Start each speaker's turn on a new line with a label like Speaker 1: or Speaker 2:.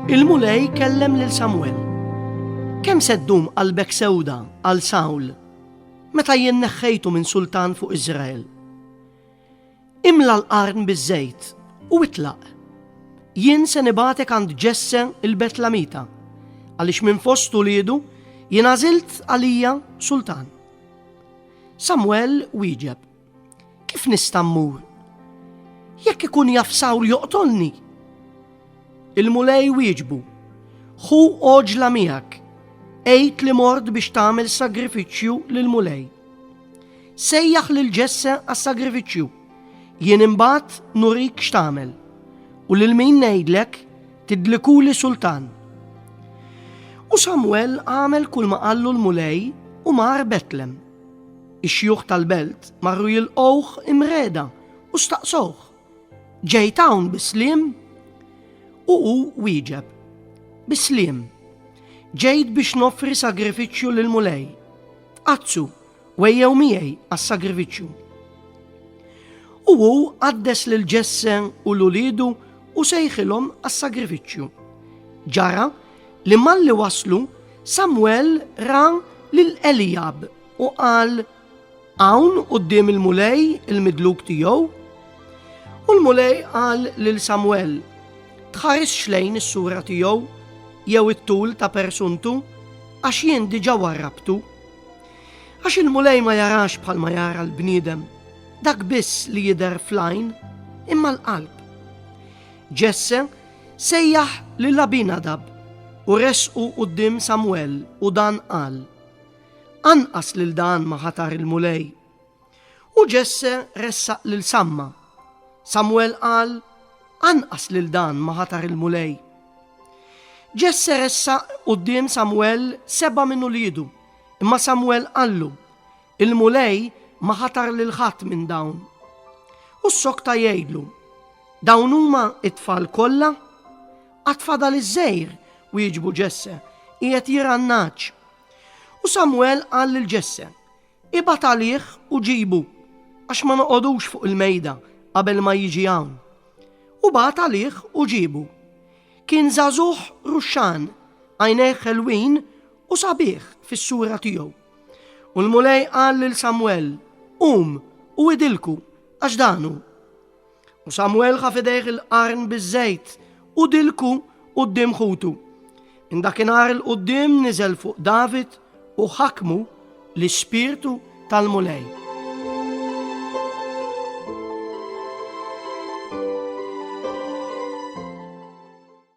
Speaker 1: Il-Mulej kellem lil Samuel. Kemm se ddum qalbek sewda għal Sawl meta jien neħħejtu minn sultan fuq Iżrael? Imla l-qarn biż-żejt u itlaq. Jien se nibatek għand Ġesse il-Betlamita għaliex minn fost uliedu jien għażilt għalija sultan. Samwel wieġeb, Kif nista' mmur? Jekk ikun jaf Sawl joqtolni. Il-mulej wieġbu, Ħu oġla miegħek, għid li mort biex tagħmel sagrifiċċju lil mulej. Sejjaħ lil ġesse għas-sagrifiċċju. Jien imbagħad nurik x'tagħmel u lil min ngħidlek tidlikuli sultan. U Samwel għamel kull ma qallu l-mulej u mar Betlem. Ix-xjuħ tal-belt marru jilqgħuh imreda u staqsowh. Ġejt hawn bisliem? U hu wieġeb. Bisliem. Ġejt biex nofri sagrifiċċju lill-mulej. Tqazzsu Wejjew miegħi għas-sagrifiċċju. U hu qaddes lil Ġesse u l-uliedu u sejħilhom għas-sagrifiċċju. Ġara li malli waslu Samwel ra lil Elijab u qal hawn quddiem il-mulej il-midluk tiegħu. U l-mulej qal lil Samwel, tħares xlejn is-sura tiegħu jew it-tul ta' persuntu għax jien diġà warrabtu. Għax il-Mulej ma jarax bħalma jara l-bniedem, dak biss li jidher fl-għajn, imma l-qalb. Ġesse sejjaħ lil Abinadab u resqu quddiem Samwel u dan qal, Anqas lil dan ma ħatar il-Mulej, U Ġesse ressaq lil Samma. Samwel qal, Anqas lil dan ma ħatar il-Mulej. Ġesse ressaq quddiem Samwel seba' minn uliedu, imma Samwel qallu, Il-Mulej ma ħatar lil ħadd minn dawn. U ssokta jgħidlu, Dawn huma t-tfal kollha? Għad fadal iż-żgħir, wieġbu Ġesse, qiegħed jirgħannaġġ. U Samwel qal lil Ġesse, Ibgħat għalih u ġibu, għax ma noqogħdux fuq il-mejda qabel ma jiġi hawn. U bagħat għalih u ġiebu. Kien żagħżugħ ruxxan, għajnejh ħelwin u sabiħ fis-sura tiegħu. U l-Mulej qal lil Samwel, Qum u idilku, għax dan hu. U Samwel ħa fidejh il-qarn biż-żejt u dilku quddiem ħutu. Indakinhar il quddiem niżel fuq David u ħakmu l-ispirtu tal-Mulej.